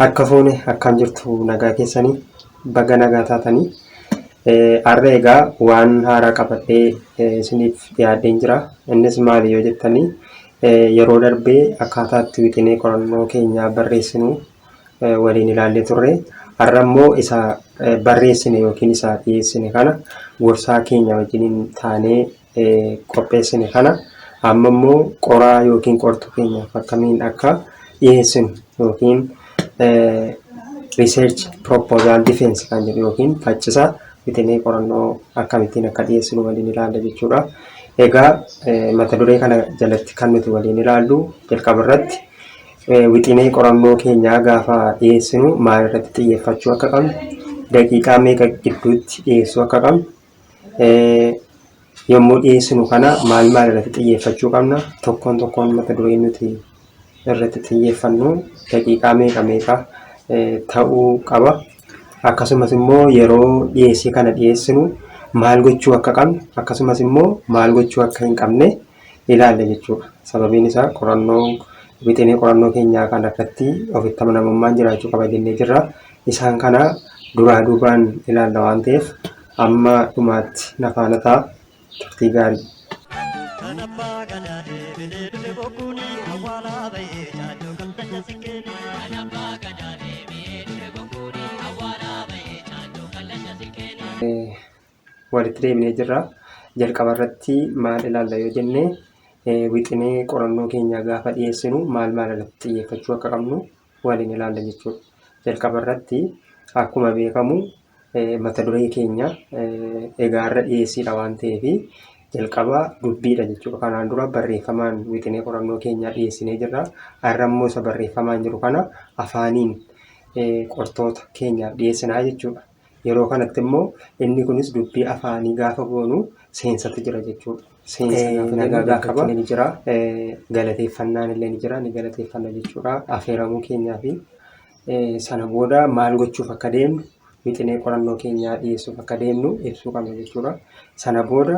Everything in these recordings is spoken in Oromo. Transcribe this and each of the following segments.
Harka fuune akkaan jirtu nagaa keessanii baga nagaa taatanii har'a egaa waan haaraa qabadhee isiniif dhiyaadheen jira. Innis maali yoo jettanii yeroo darbee akkaataa itti wixinee qorannoo keenyaa barreessinu waliin ilaallee turre. Har'a immoo isa barreessine yookiin isa dhiyeessine kana gorsaa keenya wajjiniin taanee qopheessine kana amma immoo qoraa yookiin qortuu keenyaaf akkamiin akka dhiyeessinu yookiin research proposal defense kan jedhu yookiin faccisa wixinee qorannoo akkamittiin akka dhiyeessinu waliin ilaalla jechuudha. Egaa mata duree kana jalatti kan nuti waliin ilaallu jalqaba irratti wixinee qorannoo keenyaa gaafa dhiyeessinu maal irratti xiyyeeffachuu akka qabnu daqiiqaa meeqa gidduutti dhiyeessuu akka qabnu yommuu dhiyeessinu kana maal maal irratti xiyyeeffachuu qabna tokkoon tokkoon mata duree nuti irratti xiyyeeffannu daqiiqaa meeqa meeqa ta'uu qaba akkasumas immoo yeroo dhiyeessii kana dhiyeessinu maal gochuu akka qabnu akkasumas immoo maal gochuu akka hin qabne ilaalla jechuudha. Sababiin isaa qorannoo wixinee qorannoo keenyaa kana irratti ofitti amanamummaan jiraachuu qaba jennee jirra. Isaan kana duraa duubaan ilaalla waan ta'eef amma dhumaatti na faana ta'a turtii gaarii. Kan abbaa gadaa deebinee dhufe bokkuuni awwaalaa ba'ee caaduu kan tanya sikkeen. Kan abbaa gadaa deebinee dhufe bokkuuni awwaalaa ba'ee caaduu kan tanya sikkeen. walitti deebinee jirra. Jalqaba irratti maal ilaalla yoo jenne wixinee qorannoo keenyaa gaafa dhiyeessinu maal maal irratti xiyyeeffachuu akka qabnu waliin ilaalla jechuudha. Jalqaba irratti akkuma beekamu mata duree keenya egaa irra dhiyeessiidha waan ta'eef jalqaba dubbiidha jechuudha. Kanaan dura barreeffamaan wixinee qorannoo keenyaa dhiyeessinee jirra. Har'a immoo isa barreeffamaan jiru kana afaaniin qortoota keenyaaf dhiyeessinaa jechuudha. Yeroo kanatti immoo inni kunis dubbii afaanii gaafa goonu seensatti jira jechuudha. Seensa Eh, gaafa nagaa jennu gaafa jalqaba. ni jira. Eh, galateeffannaan illee ni jira. Ni galateeffanna jechuudha. Afeeramuu keenyaa fi eh, sana booda maal gochuuf akka deemnu wixinee qorannoo keenyaa dhiyeessuuf akka deemnu ibsuu qabna jechuudha. Sana booda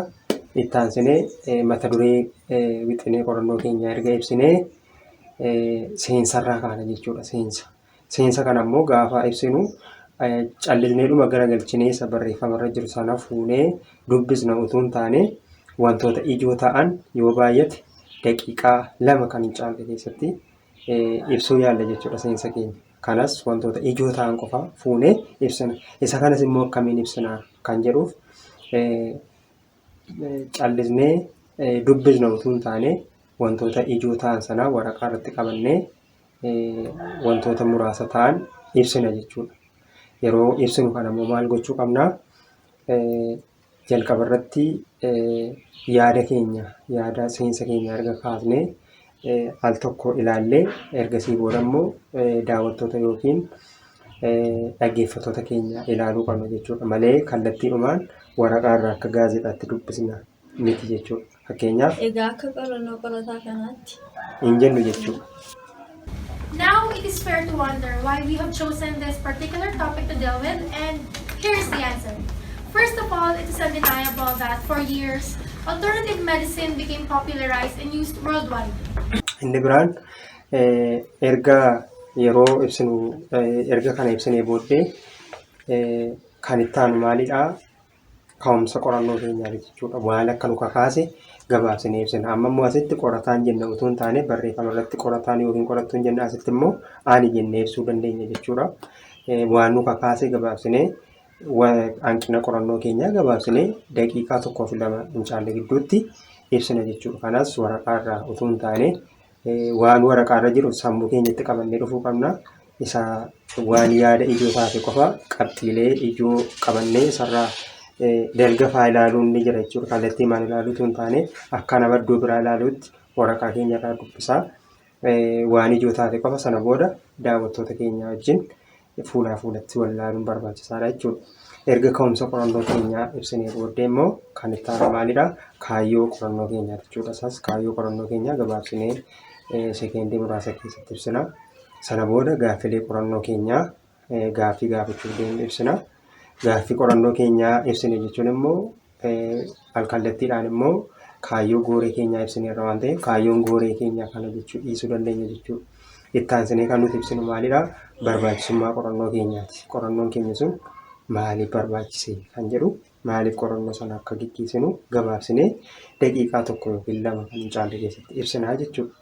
itti aansinee eh, mata duree eh, wixinee qorannoo keenyaa erga ibsinee eh, seensarraa kaana jechuudha. Seensa. Seensa kana immoo gaafa ibsinu callisneedhuma gara galchinee isa barreeffama irra jiru sana fuunee dubbisna utuu hin taane wantoota ijoo ta'an yoo baay'ate daqiiqaa lama kan hin caalle keessatti ibsuu yaalla jechuudha seensa keenya. Kanas wantoota ijoo ta'an qofa fuunee ibsina. Isa kanas immoo akkamiin ibsina kan jedhuuf callisnee dubbisna utuu hin taane wantoota ijoo ta'an sana waraqaa irratti qabannee wantoota muraasa ta'an ibsina jechuudha. Yeroo ibsinu kana immoo maal gochuu qabna? Jalqaba irratti yaada keenya yaada seensa keenya erga kaafnee al tokko ilaallee ergasii booda immoo daawwattoota yookiin dhaggeeffattoota keenya ilaaluu qabna jechuudha malee kallattiidhumaan waraqaa irraa akka gaazexaatti dubbisna. miti jechuudha. Fakkeenyaaf. Egaa akka qorannoo qorataa kanaatti. hin jennu jechuudha. Now it is fair to wonder why we have chosen this particular topic to deal with, and here is the answer. First of all, it is undeniable that for years, alternative medicine became popularized and used worldwide. Inni biraan eh, erga yeroo ibsinu eh, erga kana ibsinee booddee eh, kan itti aanu maalidha? ka'umsa qorannoo keenyaati jechuudha. Maal akka nu kakaase gabaabsinee ibsina. Amma immoo asitti qorataan jenna utuu hin taane barreeffama irratti qorataan yookiin qorattuun jenna asitti immoo ani jennee ibsuu dandeenya jechuudha. Waan nu kakaase gabaabsinee hanqina qorannoo keenyaa gabaabsinee daqiiqaa tokkoo fi lama hin caalle gidduutti ibsina jechuudha. Kanas waraqaa irraa utuu hin taane Waan waraqaa irra jiru sammuu keenyatti qabannee dhufuu qabna. Isa waan yaada ijoo taate qofa qabxiilee ijoo qabannee isarraa dalga faa ilaaluun ni jira jechuudha. Kallattii maal ilaaluutu hin taane akka nama iddoo biraa ilaaluutti waraqaa keenya irraa dubbisaa waan ijoo taate qofa sana booda daawwattoota keenya wajjin fuulaa fuulatti wal ilaaluun barbaachisaadha jechuudha. Erga ka'umsa qorannoo keenyaa ibsinee booddee immoo kan itti aanu maalidha? Kaayyoo qorannoo keenyaa jechuudha. Isaas kaayyoo qorannoo keenyaa gabaabsinee eh, sekeendii muraasa keessatti ibsina. Sana booda gaaffilee qorannoo keenyaa eh, gaaffii gaafachuuf deemnu ibsina. Gaaffii qorannoo keenyaa ibsine jechuun immoo Alkallattiidhaan immoo kaayyoo gooree keenyaa ibsineerra waan ta'eef kaayyoon gooree keenyaa kana jechuu dhiisuu dandeenya jechuudha. Itti aansinee kan nuti ibsinu maalidha? Barbaachisummaa qorannoo keenyaati. Qorannoon keenya sun maaliif barbaachise kan jedhu maaliif qorannoo sana akka gaggeessinu gabaabsinee daqiiqaa tokko yookiin lama kan hin caalle keessatti ibsinaa jechuudha.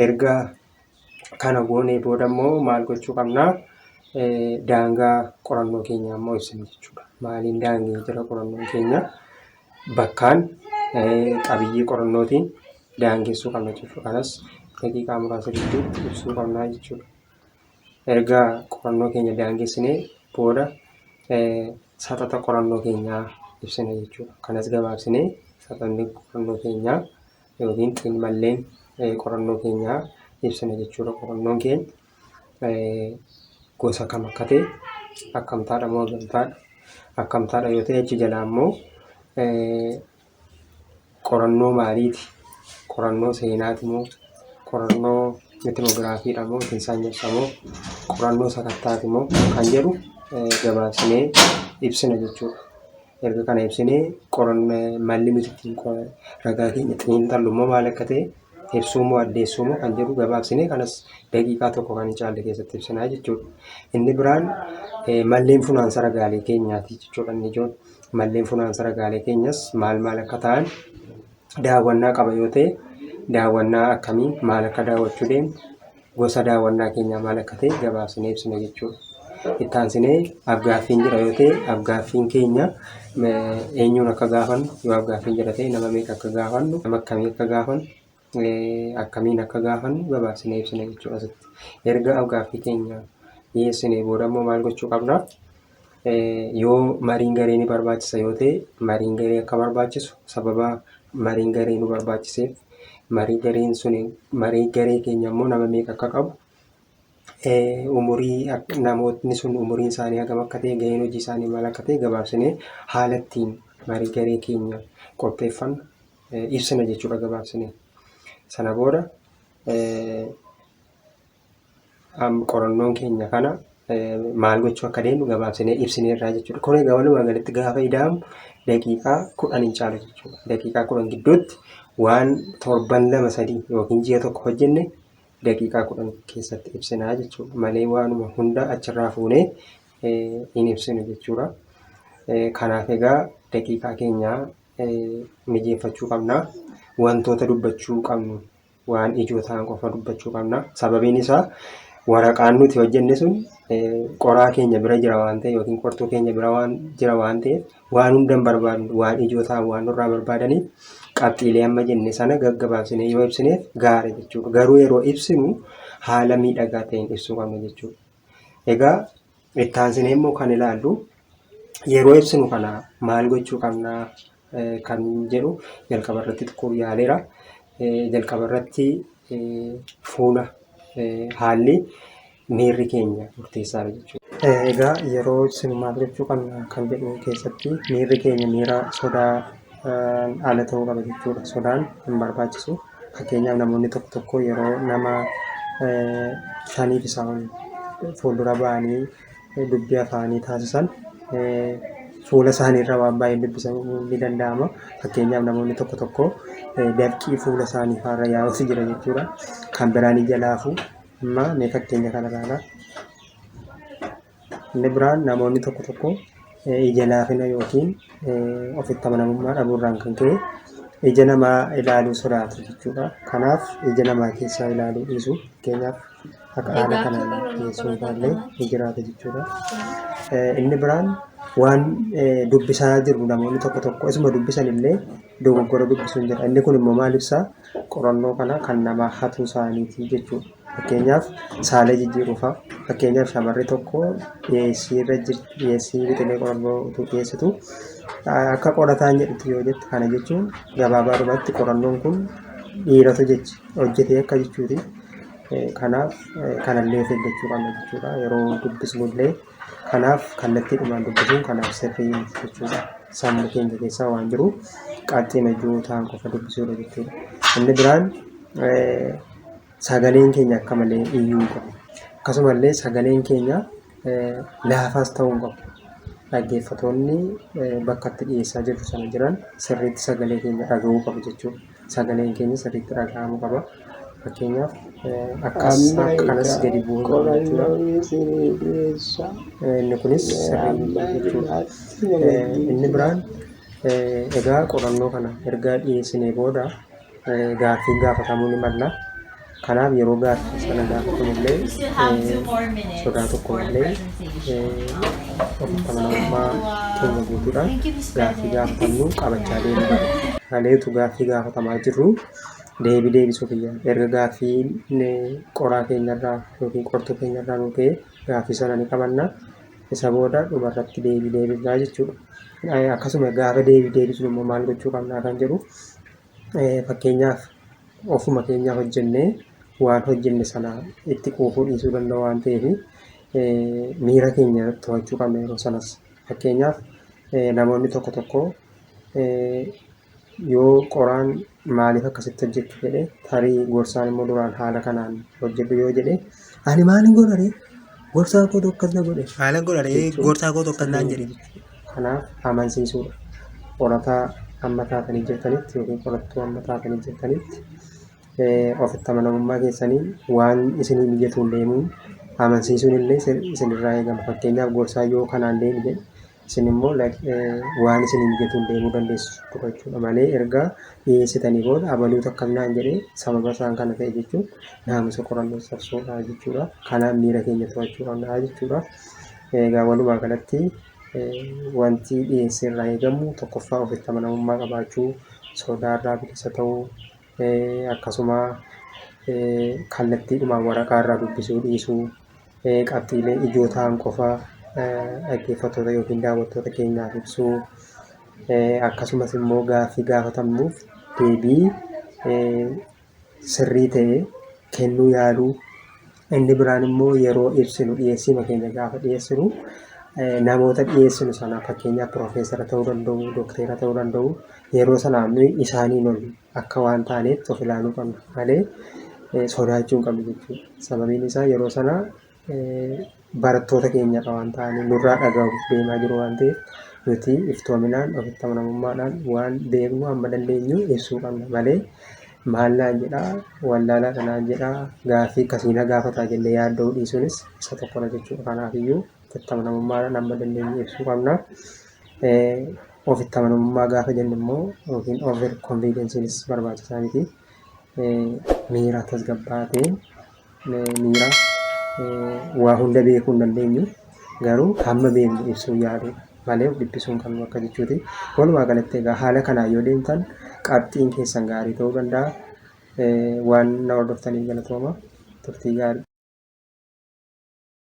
erga kana goonee booda immoo maal gochuu qabna? Eh, Daangaa qorannoo keenya immoo ibsina jechuudha. Maaliin daangee jira qorannoon keenya? Bakkaan eh, qabiyyee qorannootiin daangessuu qabna jechuudha. Kanas daqiiqaa muraasa gidduutti ibsuu qabna jechuudha. Erga qorannoo keenya daangessinee booda eh, saxaxa qorannoo keenyaa ibsina jechuudha. Kanas gabaabsinee saxanni qorannoo keenyaa yookiin xiinmalleen qorannoo keenyaa ibsina jechuudha. Qorannoon keenya gosa kam akka ta'e akkamtaadha moo gamtaadha akkamtaadha yoo ta'e achi jalaa immoo qorannoo maaliiti qorannoo seenaati moo qorannoo mitinoogiraafiidha moo yookiin saanyessaa moo qorannoo sakattaati moo kan jedhu gabaabsinee ibsina jechuudha. erga kana ibsinee qoranna malli nuti ittiin qo- ragaa keenya xiinxallu immoo maal akka ta'e ibsuu moo addeessuu moo kan jedhu gabaabsinee kanas daqiiqaa tokko kan hin caalle keessatti ibsinaa jechuudha. Inni biraan eh, malleen funaansa ragaalee keenyaati jechuudha inni ijoon. Malleen funaansa ragaalee keenyas maal maal akka ta'an daawwannaa qaba yoo ta'e daawwannaa akkamii maal akka daawwachuu deemnu gosa daawwannaa keenyaa maal akka ta'e gabaabsinee ibsina jechuudha. Itti aansinee afgaaffiin jira yoo ta'e afgaaffiin keenya eenyuun akka gaafannu yoo afgaaffiin jira ta'e nama meeqa akka gaafannu nama akkamii akka gaafannu akkamiin akka gaafannu gabaabsinee ibsina jechuudha asitti. Erga afgaaffii keenya dhiyeessinee booda immoo maal gochuu qabna? Yoo mariin garee ni barbaachisa yoo ta'e mariin garee akka barbaachisu sababa mariin garee nu barbaachiseef marii gareen sun marii garee keenya immoo nama meeqa akka qabu umurii namootni sun umuriin isaanii hagam akka ta'e gaheen hojii isaanii maal akka ta'e gabaabsinee haala ittiin marii garee keenya qopheeffannu ibsina jechuudha gabaabsinee. Sana booda am, qorannoon keenya kana eh, maal gochuu akka deemnu gabaabsinee ibsineerraa jechuudha. Kun egaa walumaa galatti gaafa ida'amu daqiiqaa kudhan hin caalu jechuudha. Daqiiqaa kudhan gidduutti waan torban lama sadii yookiin ji'a tokko hojjenne daqiiqaa kudhan keessatti ibsinaa jechuudha. Malee waanuma hunda achirraa fuunee eh, hin ibsinu jechuudha. Eh, Kanaaf egaa daqiiqaa keenya eh, mijeeffachuu qabna. Wantoota dubbachuu qabnu waan ijoo ta'an qofa dubbachuu qabna. Sababiin isaa waraqaan nuti hojjenne sun qoraa keenya bira jira waan ta'e yookiin qortuu keenya bira waan jira waan ta'e waan hundan barbaadnu waan ijoo ta'an waan nurraa barbaadaniif qabxiilee amma jenne sana gaggabaabsinee yoo ibsineef gaara jechuudha. Garuu yeroo ibsinu haala miidhagaa ta'een ibsuu qabna jechuudha. Egaa Itti aansinee immoo kan ilaallu yeroo ibsinu kana maal gochuu qabna kan jedhu jalqaba irratti xiqqoo yaaleera. Jalqaba irratti fuula haalli miirri keenya murteessaadha jechuudha. Egaa yeroo ibsinu maal gochuu qabna kan jedhu keessatti miirri keenya miira sodaa ala ta'uu qaba jechuudha. Sodaan hin barbaachisu. Fakkeenyaaf namoonni tokko tokko yeroo nama shaniif isaa ol fuuldura ba'anii dubbii afaanii taasisan fuula isaaniirra waan baay'een dubbisamuu ni danda'ama. Fakkeenyaaf namoonni tokko tokko dafqii fuula isaanii faarra yaa'us jira jechuudha. Kan biraan ija laafuu amma mee fakkeenya kana ilaalaa. Inni biraan namoonni tokko tokko ija laafina yookiin ofitti amanamummaa dhabuurraan kan ka'e ija namaa ilaaluu sodaatu jechuudha. Kanaaf ija namaa keessaa ilaaluu dhiisu. Fakkeenyaaf akka haala kanaan dhiyeessuu ilaallee ni jiraata jechuudha. Inni biraan waan dubbisaa jiru namoonni tokko tokko isuma dubbisan illee dogoggora dubbisuun jedha. Inni kun immoo maal ibsaa? Qorannoo kana kan namaa hatuu isaaniitii jechuudha. Fakkeenyaaf saalee jijjiiruufaa. Fakkeenyaaf shamarri tokko dhiyeessii irra jirti dhiyeessii wixinee qorannoo utuu dhiyeessitu akka qorataan jedhutti yoo jette kana jechuun gabaabaadhumatti qorannoon kun dhiiratu jechi hojjetee akka jechuuti. Kanaaf kanallee of eeggachuu qabna jechuudha. Yeroo dubbisnullee Kanaaf kallattiidhumaan dubbisuun kanaaf sirrii miti jechuudha. Sammuu keenya keessa waan jiru qabxiin hojii ta'an qofa dubbisuudha jechuudha. Inni biraan sagaleen keenya akka malee iyyuu hin qabu. Akkasumallee sagaleen keenya laafaas ta'uu hin qabu. Dhaggeeffatoonni bakka itti dhiyeessaa jirru sana jiran sirriitti sagalee keenya dhagahuu qabu jechuudha. sagaleen keenya sirriitti dhaga'amu qaba. Fakkeenyaaf akkas Amma akka kanas egaa gadi bu'uu hin qabu jechuudha. qorannoo isinii dhiyeessa. Eh, Inni kunis sirrii Amma miti jechuudha. as Eh, waliin Inni biraan eh, egaa qorannoo kana erga dhiyeessinee booda eh, gaaffiin gaafatamuu ni malla. Kanaaf yeroo gaaffiin sana gaafatamullee sodaa tokko malee ofitti amanamummaa keenya guutuudhaan gaaffii gaafatamnu qabachaa deemuu qaba. Haleetu gaaffii gaafatamaa jirru deebii deebisuu kiyya. Erga gaaffii qoraa keenyarraa yookiin qortuu keenyarraa nu ta'e gaaffii sana ni qabanna. Isa booda dhumarratti deebii deebifnaa jechuudha. Akkasuma gaafa deebii deebisnu immoo maal gochuu qabnaa kan jedhu Fakkeenyaaf ofuma keenyaa hojjennee waan hojjenne sana itti quufuu dhiisuu danda'u waan ta'eef miira keenya to'achuu qabna yeroo sanas. Fakkeenyaaf namoonni tokko tokko yoo qoraan maaliif akkasitti hojjettu jedhe tarii gorsaan immoo duraan haala kanaan hojjedhu yoo jedhe Ani maalin godha ree? Gorsaa kootu akkas na godhe. Maalin godha ree? Gorsaa kootu akkas naan jedhe. Kanaaf amansiisuudha. Qorataa amma taatanii jirtanitti yookiin qorattuu amma taatanii jirtanitti ofitti amanamummaa keessanii waan isinii mijatuun deemuun amansiisuun illee isinirraa eegama. Fakkeenyaaf gorsaa yoo kanaan deemi jedhe isin immoo waan isin hin jetuun deemuu dandeessu tokko jechuudha malee erga dhiyeessitanii booda abaluutu akkas naan jedhee sababa isaan kana ta'e jechuun naamusa qorannoo cabsuudha jechuudha kanaaf miira keenya to'achuu qabna jechuudha egaa walumaa galatti wanti dhiyeessee irraa eegamu tokkoffaa ofitti amanamummaa qabaachuu sodaarraa bilisa ta'uu akkasuma kallattiidhumaan waraqaa irraa dubbisuu dhiisuu qabxiilee ijoo ta'an qofa dhaggeeffattoota yookiin daawwattoota keenyaaf ibsuu akkasumas immoo gaaffii gaafatamnuuf deebii sirrii ta'e kennuu yaaluu Inni biraan immoo yeroo ibsinu dhiyeessiima keenya gaafa dhiyeessinu namoota dhiyeessinu sana fakkeenyaaf piroofeesara ta'uu danda'u, dokteera ta'uu danda'u yeroo sana nuyi isaaniin ol akka waan taaneetti of ilaaluu qabna malee sodaachuu hin qabnu jechuudha. Sababiin isaa yeroo sana barattoota keenyadha waan ta'aniif nurraa dhagahuuf deemaa jiru waan ta'eef nuti iftoominaan ofitti amanamummaadhaan waan beeknu amma dandeenyu ibsuu qabna malee Maal naan jedhaa? Wallaalaa dha naan jedhaa? Gaaffii akkasii na gaafataa jennee yaadda'uu dhiisuunis isa tokko dha jechuu dha. Kanaaf iyyuu ofitti amanamummaadhaan amma dandeenye ibsuu qabna. Ofitti amanamummaa gaafa jennu immoo yookiin over confidence nis barbaachisaa miti. Miira tasgabbaa'aa ta'een miiraa waa hunda beekuu hin dandeenyu garuu hamma beeknu ibsuu yaaluu malee of dhiphisuu hin qabnu akka jechuuti. Walumaa galatti egaa haala kanaan yoo deemtan qabxiin keessan gaarii ta'uu danda'a. Waan na hordoftaniif galatooma turtii gaarii.